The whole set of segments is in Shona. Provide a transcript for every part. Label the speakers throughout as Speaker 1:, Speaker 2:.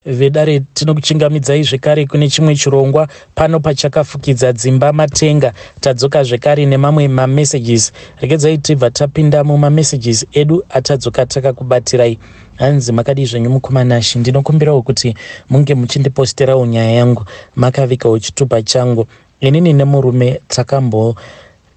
Speaker 1: vedare tinokuchingamidzai zvekare kune chimwe chirongwa pano pachakafukidza dzimba matenga tadzoka zvekare nemamwe mamessages regedzai tibva tapinda mumamessages edu atadzoka takakubatirai hanzi makadii zvenyu mukoma nashi ndinokumbirawo kuti munge muchindiposterawo nyaya yangu makavikawo chitupa changu inini nemurume takambo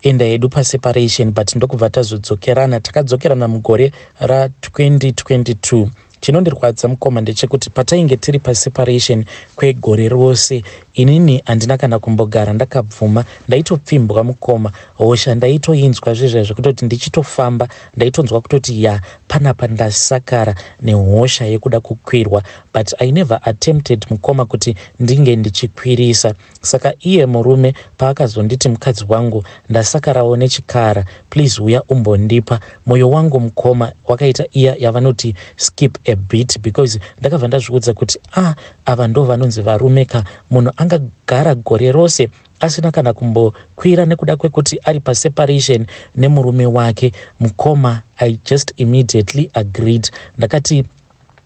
Speaker 1: enda hedu paseparation but ndokubva tazodzokerana takadzokerana mugore ra 2022 chinondirwadza mukoma ndechekuti patainge tiri paseparation kwegore rose inini handina kana kumbogara ndakabvuma ndaitopfimbwa mukoma hosha ndaitoinzwa zvezva zvekutoti ndichitofamba ndaitonzwa kutoti ya panapa ndasakara nehosha yekuda kukwirwa but i never attempted mukoma kuti ndinge ndichikwirisa Saka iye murume paakazonditi mukadzi wangu ndasakarawo nechikara please huya umbondipa moyo wangu mukoma wakaita iya yavanoti skip a bit because ndakabva ndazviudza kuti ah ava ndo vanonzi varume ka munhu angagara gore rose asina kana kumbokwira nekuda kwekuti ari paseparation nemurume wake mukoma i just immediately agreed ndakati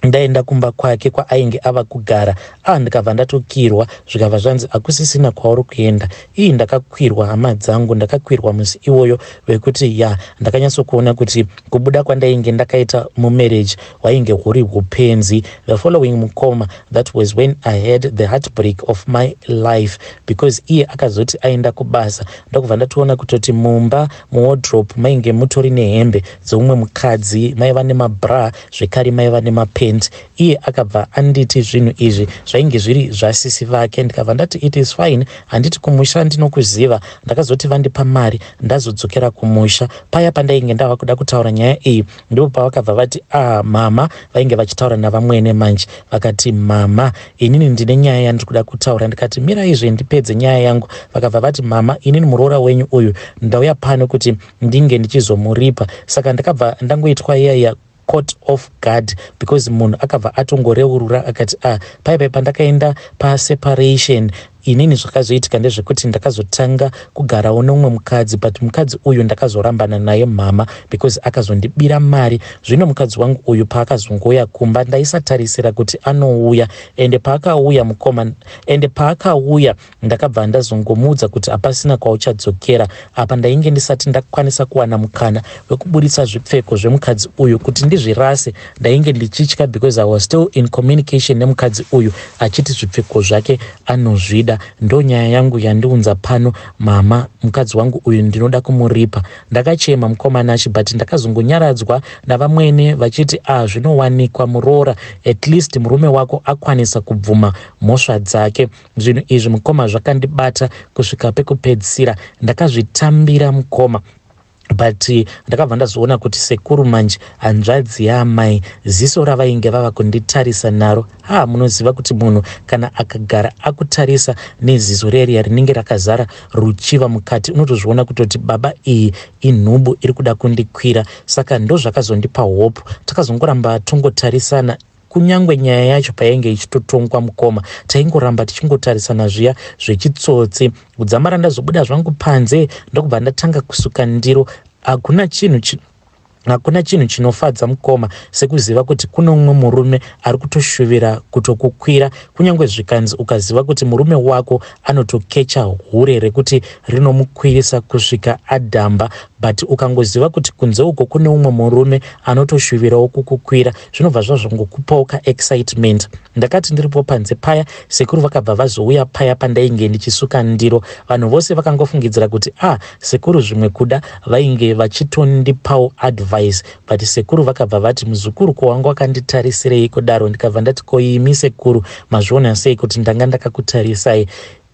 Speaker 1: ndaenda kumba kwake kwaainge ava kugara a ah, ndikabva ndatokirwa zvikabva zvanzi hakusisina kwauri kuenda ii ndakakwirwa hama dzangu ndakakwirwa musi iwoyo vekuti ya ndakanyatsokuona kuti kubuda kwandainge ndakaita mumarriage hwainge huri upenzi the following mukoma that was when i had the heartbreak of my life because iye akazoti aenda kubasa ndokubva ndatoona kutoti mumba muwardrope mainge mutori nehembe dzeumwe mukadzi maiva nemabra zvekare maiva nemapent iye akabva anditi zvinhu izvi zvainge zviri zvasisi vake ndikabva ndati it is fine handiti kumusha ndinokuziva ndakazoti vandipa mari ndazodzokera kumusha paya pandainge ndava kuda kutaura nyaya iyi ndipo pavakabva vati ah mama vainge vachitaura navamwene manje vakati mama inini ndine nyaya yandiri kuda kutaura ndikati miraizve ndipedze nyaya yangu vakabva vati mama inini muroora wenyu uyu ndauya pano kuti ndinge ndichizomuripa saka ndakabva ndangoitwa iya iya cot off guard because munhu akabva atongoreurura akati a ah, paipai pandakaenda paseparation inini zvakazoitika ndezvekuti ndakazotanga kugarawo neumwe mukadzi but mukadzi uyu ndakazorambana naye mhama because akazondibira mari zvino mukadzi wangu uyu paakazongouya kumba ndaisatarisira kuti anouya ende paakauya mukoma ende paakauya Ndakabva ndazongomuudza kuti hapasina kwauchadzokera. Apa ndainge ndisati ndakwanisa kuwana mukana wekuburitsa zvipfeko zvemukadzi uyu kuti ndizvirase. Ndainge ndichitya because I was still in communication nemukadzi uyu achiti zvipfeko zvake anozvida. Ndonyaya yangu yandiunza pano mama, mukadzi wangu uyu ndinoda kumuripa. Ndakachema mukoma Nashi but ndakazongonyaradzwa navamwene vachiti ah zvinowanikwa muroora at least murume wako akwanisa kubvuma mhosva dzake. zvinhu izvi mukoma zvakandibata kusvika pekupedzisira ndakazvitambira mukoma but eh, ndakabva ndazoona kuti sekuru manje hanzvadzi yaamai ziso ravainge vava kunditarisa naro ha munoziva kuti munhu kana akagara akutarisa neziso reriya rinenge rakazara ruchiva mukati unotozviona kutoti baba iyi inhubu iri kuda kundikwira saka ndozvakazondipa hope takazongoramba tongotarisana Kunyangwe nyaya yacho payainge ichitotongwa mukoma taingoramba tichingotarisana zviya zvechitsotsi. Kudzamara ndazobuda zvangu panze ndokubva ndatanga kusuka ndiro. Hakuna chinhu chi hakuna chinhu chinofadza mukoma sekuziva kuti kuno mumwe murume ari kutoshuvira kutokukwira kunyange zvikanzi ukaziva kuti murume wako anotokecha hure rekuti rinomukwirisa kusvika adhamba but ukangoziva kuti kunze uko kune umwe murume anotoshuvirawo kukukwira zvinobva zvazvangokupawo kaexcitement ndakati ndiripo panze paya sekuru vakabva vazouya paya pandainge ndichisuka ndiro vanhu vose vakangofungidzira kuti a ah, sekuru zvimwe kuda vainge vachitondipawo advice But sekuru vakabva vati muzukuru ko wanga wakanditarisirei kudaro ndikabva ndati ko imi sekuru mazviona sei kuti ndanga ndakakutarisai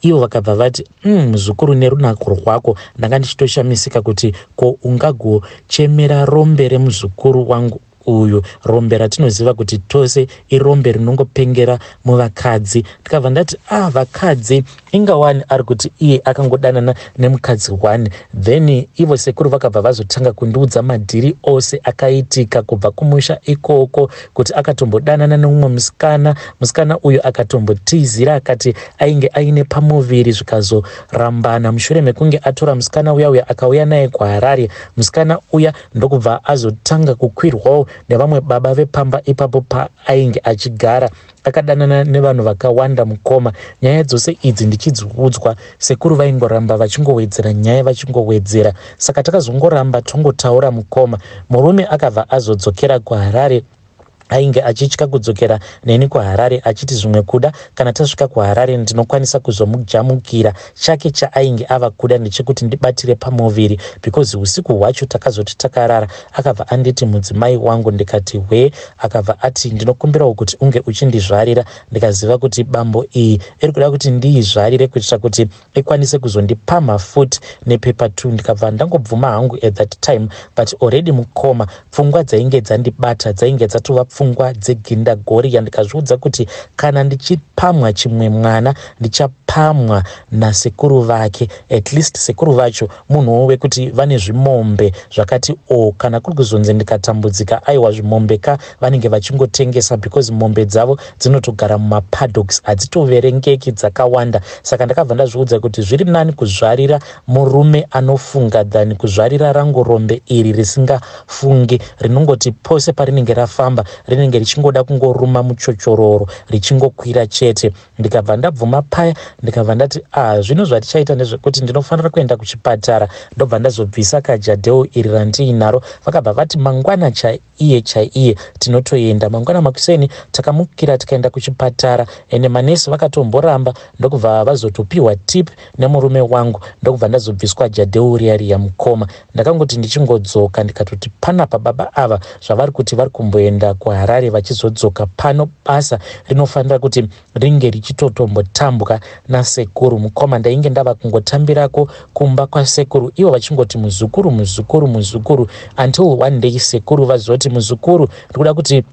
Speaker 1: ivo vakabva vati mm, muzukuru mm, nerunako rwako ndanga ndichitoshamisika kuti ko ungagochemera rombe remuzukuru wangu uyu rombe ratinoziva kuti tose irombe rinongopengera muvakadzi ndikabva ndati ah vakadzi inga wani ari kuti iye akangodanana nemukadzi one then ivo sekuru vakabva vazotanga kundiudza madhiri ose akaitika kubva kumusha ikoko kuti akatombodanana neumwe musikana musikana uyu akatombotizira akati ainge aine pamuviri zvikazorambana mushure mekunge atora musikana uya uya akauya naye kuharare musikana uya ndokubva azotanga kukwirwawo nevamwe baba vepamba ipapo paainge achigara Takadanana nevanhu vakawanda mukoma, nyaya dzose idzi ndichidziudzwa. Sekuru vaingoramba vachingowedzera nyaya vachingowedzera, saka takazongoramba tongotaura mukoma. Murume akabva azodzokera kuHarare ainge achitya kudzokera neni kuharare achiti zvimwe kuda kana tasvika kuharare ndinokwanisa kuzomujamukira Chake chaainge ava kuda ndechekuti ndibatire pamuviri because husiku hwacho takazoti takarara akabva anditi mudzimai wangu ndikati hwee akabva ati ndinokumbirawo kuti unge uchindizvarira ndikaziva kuti bambo iyi iri kuda kuti ndiizvarire kuitira kuti ikwanise kuzondipamha futi nepepa two ndikabva ndangobvuma hangu at that time but already mukoma Pfungwa dzainge dzandibata dzainge dzatova pfungwa dzegindagoriya ndikazviudza kuti kana ndichipamwa chimwe mwana ndichapamwa nasekuru vake at least sekuru vacho munhuwo wekuti vane zvimombe zvakati o kana kuri kuzonzi ndikatambudzika aiwa zvimombe ka vanenge vachingotengesa because mombe dzavo dzinotogara mumapadoks hadzitoverengeki dzakawanda saka ndakabva ndazviudza kuti zviri nani kuzvarira Murume anofunga than kuzvarira rangorombe iri risingafungi rinongoti pose parinenge rafamba rinenge richingoda kungoruma muchochororo richingokwira chete. Ndikabva ndabvuma paya ndikabva ndati ah zvino zvatichaita ndezvekuti ndinofanira kuenda kuchipatara ndobva ndazobvisa kajadheo iri randiinaro. Vakabva vati mangwana chai iye chaiye tinotoenda mangwana makuseni takamukira tikaenda kuchipatara ende manesi vakatomboramba ndokubva vazotopiwa tip nemurume wangu ndokubva ndazobviswa jadeuriyariya mukoma ndakangoti ndichingodzoka ndikatoti panapa baba ava zvavari kuti vari kumboenda kuharare vachizodzoka pano basa rinofanira kuti ringe richitotombotambwa nasekuru mukoma ndainge ndava kungotambirako kumba kwasekuru ivo vachingoti muzukuru muzukuru muzukuru until one day sekuru vazoti muzukuru ndikuda kuti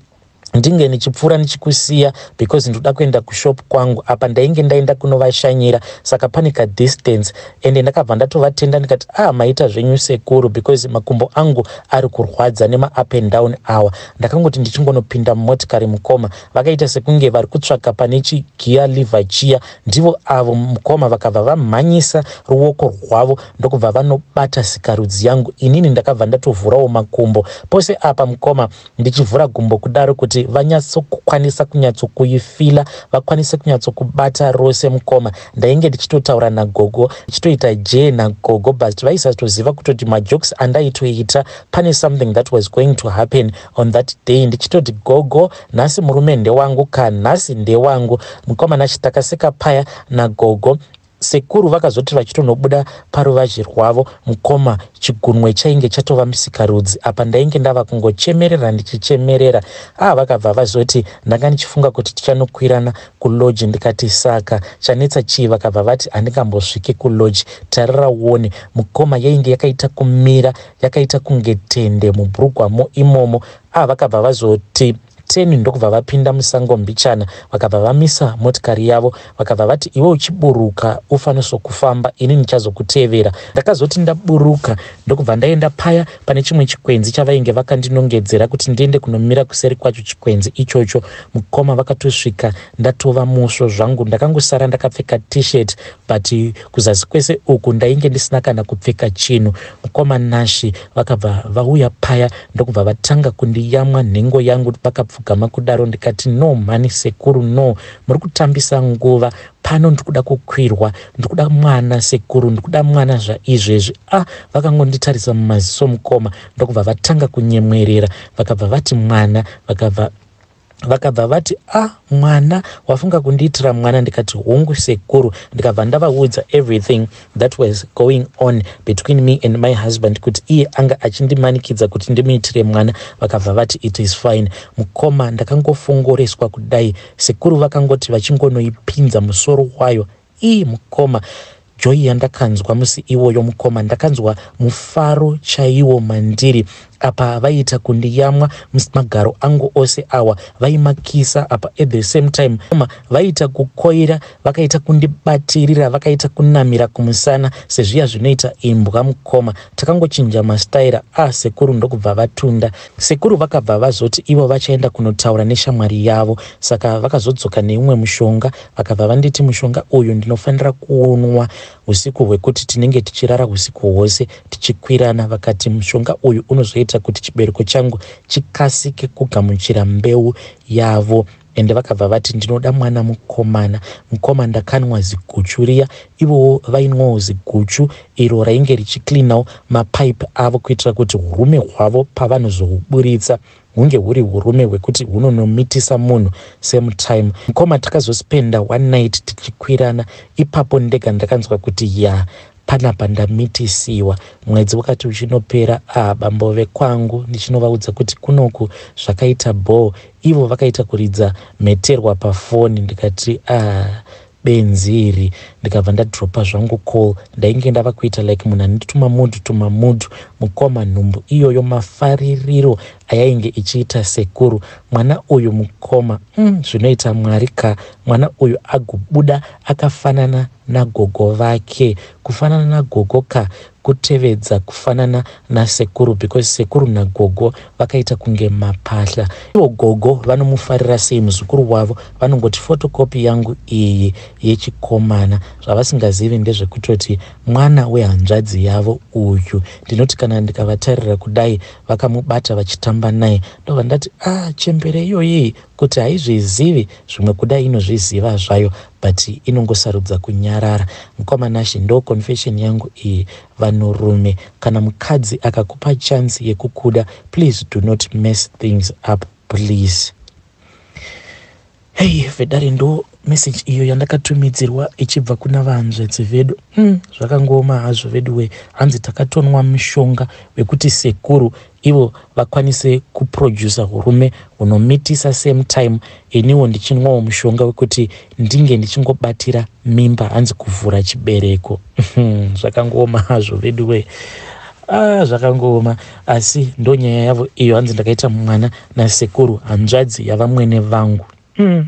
Speaker 1: ndinge ndichipfuura ndichikusiya because ndoda kuenda kushop kwangu apa ndainge ndaenda kunovashanyira saka pane kadistance ende ndakabva ndatovatenda ndikati a ah, maita zvenyu sekuru because makumbo angu ari kurwadza nemaup and down awa ndakangoti ndichingonopinda mumotikari mukoma vakaita sekunge vari kutsvaka pane chigiya liver chiya ndivo avo mukoma vakabva vamhanyisa ruoko rwavo ndokubva vanobata sikarudzi yangu inini ndakabva ndatovhurawo makumbo pose apa mukoma ndichivhura gumbo kudaro kuti vanyatsokukwanisa kunyatsokuifila vakwanise kunyatsokubata rose mukoma ndainge ndichitotaura nagogo ndichitoita jee nagogo but vaisatoziva kutoti majokes andaitoita pane something that was going to happen On that day ndichitoti gogo nhasi murume ndewangu ka nhasi ndewangu mukomana chitakasika paya nagogo sekuru vakazoti vachitonobuda paruvazhe rwavo mukoma chigunwe chainge chatova musikarudzi apa ndainge ndava kungochemerera ndichichemerera aa ah, vakabva vazoti ndanga ndichifunga kuti tichanokwirana kuloji ndikati saka chanetsa chii vakabva vati handingambosviki kuloji tarira uone mukoma yainge yakaita kumira yakaita kunge tende mubhurukwamo imomo ava vakabva vazoti teni ndokubva vapinda musango mbichana vakabva vamisa motikari yavo vakabva vati iwe uchiburuka ufaniso kufamba ini ndichazokutevera ndakazoti ndaburuka ndokubva ndaenda paya pane chimwe chikwenzi chavainge vakandinongedzera kuti ndiende kunomira kuseri kwacho chikwenzi ichocho mukoma vakatosvika ndatova musvo zvangu ndakangosara ndakapfeka t-shirt but kuzasi kwese uku ndainge ndisina kana kupfeka chinhu mukoma nashi vakabva vauya paya ndokubva vatanga kundiyamwa nhengo yangu vakapfugama kudaro ndikati no mhani sekuru no muri kutambisa nguva pano ndikuda kukwirwa ndikuda mwana sekuru ndikuda mwana zvaizvezvi a ah, vakangonditarisa mumaziso mukoma ndokubva vatanga kunyemwerera vakabva vati mwana vakabva vakabva vati a ah, mwana wafunga kundiitira mwana ndikati hongu sekuru ndikabva ndavaudza everything that was going on between me and my husband kuti iye anga achindimanikidza kuti ndimuitire mwana vakabva vati it is fine mukoma ndakangofongoreswa kudai sekuru vakangoti vachingonoipinza musoro wayo Ii mukoma joy yandakanzwa musi iwoyo mukoma ndakanzwa mufaro chaiwo mandiri apa vaiita kundiyamwa magaro angu ose awa vaimakisa apa at the same time ma vaiita kukoira vakaita kundibatirira vakaita kunamira kumusana sezviya zvinoita imbwa mukoma takangochinja mastaira a ah, sekuru ndokubva vatunda sekuru vakabva vazoti ivo vachaenda kunotaura neshamwari yavo saka vakazodzoka neumwe mushonga Vakabva vanditi mushonga uyu ndinofanira kuunwa usiku hwekuti tinenge tichirara usiku hwose tichikwirana. Vakati mushonga uyu unozoita kuti chibereko changu chikasike kugamuchira mbeu yavo ende vakabva vati ndinoda mwana mukomana mukoma ndakanwa ziguchu riya ivowo vainwawo ziguchu iro rainge richiclinawo mapipe avo kuitira kuti urume hwavo pavanozohuburitsa hunge huri hurume hwekuti hunonomitisa munhu same time mkoma takazospenda one night tichikwirana ipapo ndega ndakanzwa kuti ya panapa ndamitisiwa mwedzi wakati uchinopera a bambove kwangu ndichinovaudza kuti kunoku zvakaita bhoo ivo vakaita kuridza mheterwa pafoni ndikati a benzi iri ndikabva ndadropa zvangu call ndainge ndava kuita like munhu ane tumamudhu tumamudhu mukoma nhumbu iyoyo mafaririro ayainge ichiita sekuru mwana uyu mukoma mm, zvinoita mm, mwari ka mwana uyu agobuda akafanana nagogo vake kufanana nagogo ka kutevedza kufanana nasekuru because sekuru nagogo vakaita kunge mapahla ivo gogo vanomufarira sei muzukuru wavo vanongoti fotokopi yangu iyi yechikomana zvavasingazivi ndezvekutoti mwana wehanzvadzi yavo uyu ndinoti kana ndikavatarira kudai vakamubata vachitamba naye ndobva ndati ah chembere iyoyii kuti haizvizivi zvimwe kuda inozviziva zvayo but inongosarudza kunyarara mukoma Nashy ndo confession yangu iyi vanhurume kana mukadzi akakupa chance yekukuda please do not mess things up please hei vedare ndo message iyo yandakatumidzirwa ichibva kuna vahanzvedzi vedu hmm, zvakangooma hazvo veduwe hanzi takatonwa mushonga wekuti sekuru ivo vakwanise kuproducer hurume hunomitisa same time iniwo ndichinwawo mushonga wekuti ndinge ndichingobatira mimba hanzi kuvhura chibereko hmm, zvakangooma hazvo veduwe ah, zvakangooma asi ndonyaya yavo iyo hanzi ndakaita mwana nasekuru hanzvadzi yavamwene vangu hmm.